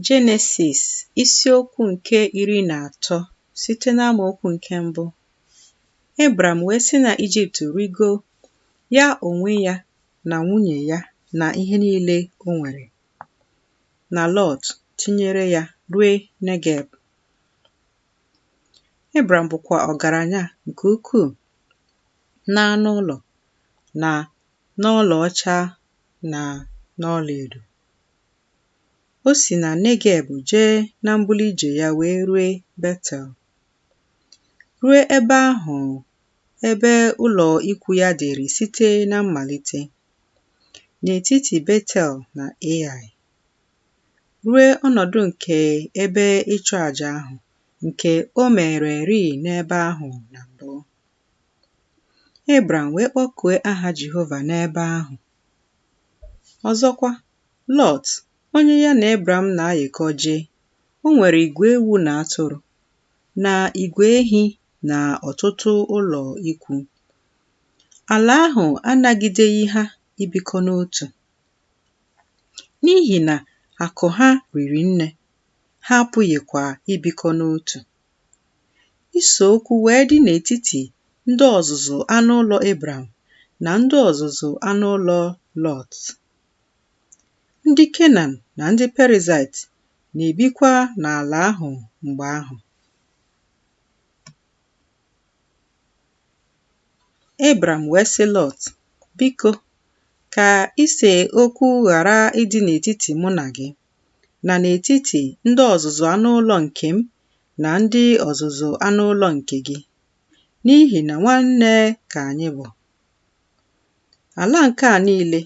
Jenesis isiokwu nke iri na atọ site n'amaokwu nke mbụ Ebram wee si na Ijipt rigo ya onwe ya na nwunye ya na ihe niile o nwere na Lọt tinyere ya rue Negeb. Ebram bụkwa ọgaranya nke ukwuu n'anụ ụlọ na n'ọlaọcha na n'ọlaedo. O si na Negeb jee na mbuli ije ya wee rue Betel. Rue ebe ahụ ebe ụlọ ikwu ya dịrị site na mmalite, n'etiti Betel na Ai, rue ọnọdụ nke ebe ịchụ aja ahụ nke o mererịị n'ebe ahụ na mbụ. Ebram wee kpọkue aha Jehova n'ebe ahụ. Ọzọkwa, Lọt, onye ya na Ebram na-ayịkọ jee, o nwere igwe ewu na atụrụ, na igwe ehi na ọtụtụ ụlọ ikwu. Ala ahụ anagideghị ha ibikọ n'otu. N'ihi na akụ ha riri nne, ha apụghịkwa ibikọ n'otu. Ise okwu wee dị n'etiti ndị ọzụzụ anụ ụlọ Ebram na ndị ọzụzụ anụ ụlọ Lọt. Ndị Kenan na ndị Perizait na-ebikwa n'ala ahụ mgbe ahụ. Ebram wee sị Lọt, Biko, ka ise okwu ghara ịdị n'etiti mụ na gị. na n'etiti ndị ọzụzụ anụ ụlọ nke m na ndị ọzụzụ anụ ụlọ nke gị, n'ihi na nwanne ka anyị bụ. Ala nke a niile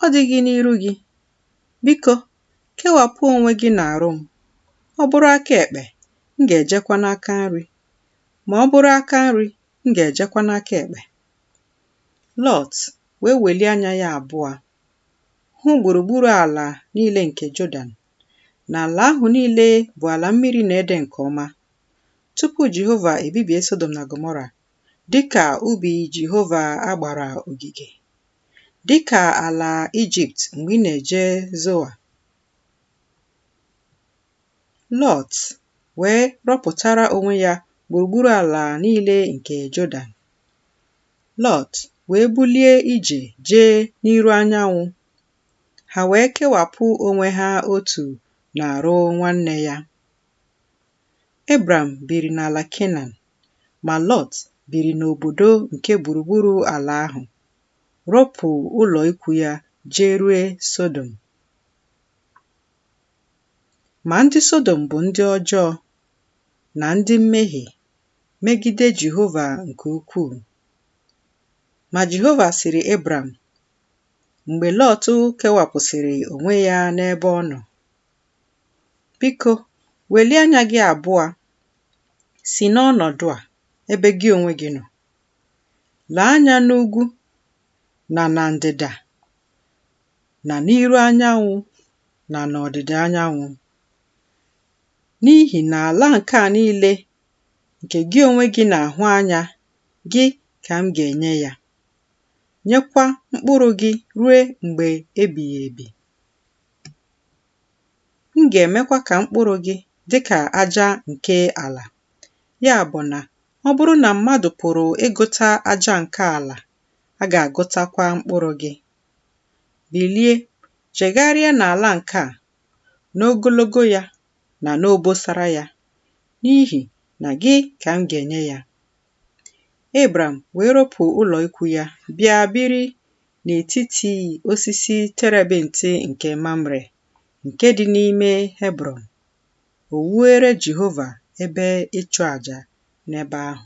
ọ dịghị n'iru gị? Biko, kewapụ onwe gị n'arụ m. Ọ bụrụ aka ekpe, m ga-ejekwa n'aka nri, ma ọ bụrụ aka nri, m ga-ejekwa n'aka ekpe. Lọt wee welie anya ya abụọ hụ gburugburu ala niile nke Jọdan, na ala ahụ niile bụ ala mmiri na-ede nke ọma, tupu Jehova ebibie Sọdọm na Gọmọra, dị ka ubi Jehova a gbara ogige, dị ka ala Ijipt mgbe ị na-eje Zoa. Lọt wee rọpụtara onwe ya gburugburu ala niile nke Jọdan. Lọt wee bulie ije jee n'iru anyanwụ, ha wee kewapụ onwe ha otu n'arụ nwanne ya. Ebram biri n'ala Kenan, ma Lọt biri n'obodo nke gburugburu ala ahụ, ropụ ụlọ ikwu ya jee rue Sodom. Ma ndị Sodom bụ ndị ọjọọ na ndị mmehie megide Jehova nke ukwuu. Ma Jehova sịrị Ebram, mgbe Lọt kewapụsịrị onwe ya n'ebe ọ nọ, Biko, welie anya gị abụọ si n'ọnọdụ a ebe gị onwe gị nọ, lee anya n'ugwu na na ndịda na n'iru anyanwụ na n'ọdịda anyanwụ, n'ihi na ala nke a niile nke gị onwe gị na-ahụ anya, gị ka m ga-enye ya, nyekwa mkpụrụ gị ruo mgbe ebighị ebi. M ga-emekwa ka mkpụrụ gị dị ka aja nke ala. Ya bụ na ọ bụrụ na mmadụ pụrụ ịgụta aja nke ala, a ga-agụtakwa mkpụrụ gị. Bilie, jegharịa n'ala nke a, n'ogologo ya na n'obosara ya, n'ihi na gị ka m ga-enye ya. Ebram wee ropụ ụlọ ikwu ya bịa biri n'etiti osisi terebint nke Mamre nke dị n'ime Hebrọn. O wuere Jehova ebe ịchụ aja n'ebe ahụ.